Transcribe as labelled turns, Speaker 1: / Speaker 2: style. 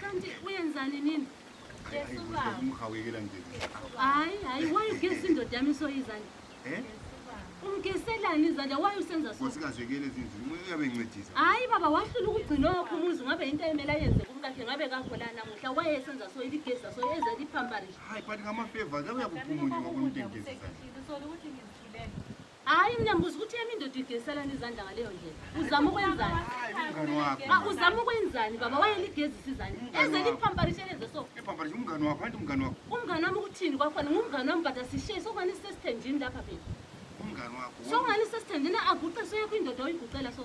Speaker 1: Kanti
Speaker 2: uyenzani nini?
Speaker 1: Umhawekela nje. Hayi, hayi,
Speaker 2: why ugesi indoda yami soyizani? Eh? Umgeselani izandla why usenza so? Usikazekele ezindlini. Umuntu
Speaker 1: uyabe encedisa. Hayi baba wahlula
Speaker 2: ukugcina wakho umuzi ngabe into emela yenze kumkakhe ngabe kahola namuhla why esenza so iligesa so eze lipamparish. Hayi, but ngama favors
Speaker 1: abuya kuphumula ngokumuntu engizisa. Sorry ukuthi ngizithulele.
Speaker 2: Hayi mina ngibuza ukuthi yami indoda igeziselana izandla ngaleyo ndlela. Uzama ukwenzani? Umngani wakho.
Speaker 1: Ah, Uzama ukwenzani baba
Speaker 2: wayeligezisa izandla. Umngani Eze wakho. liphamparishwe lenze so. Iphamparisa umngani wakho, anti
Speaker 1: umngani wakho. Umngani wami ukuthini kwakhona
Speaker 2: ngumngani wami but asishiye sokungani sisesithenjini lapha phela. Umngani wakho.
Speaker 1: Sokungani sisesithenjini
Speaker 2: aguqe soyekho indoda oyiguqela so.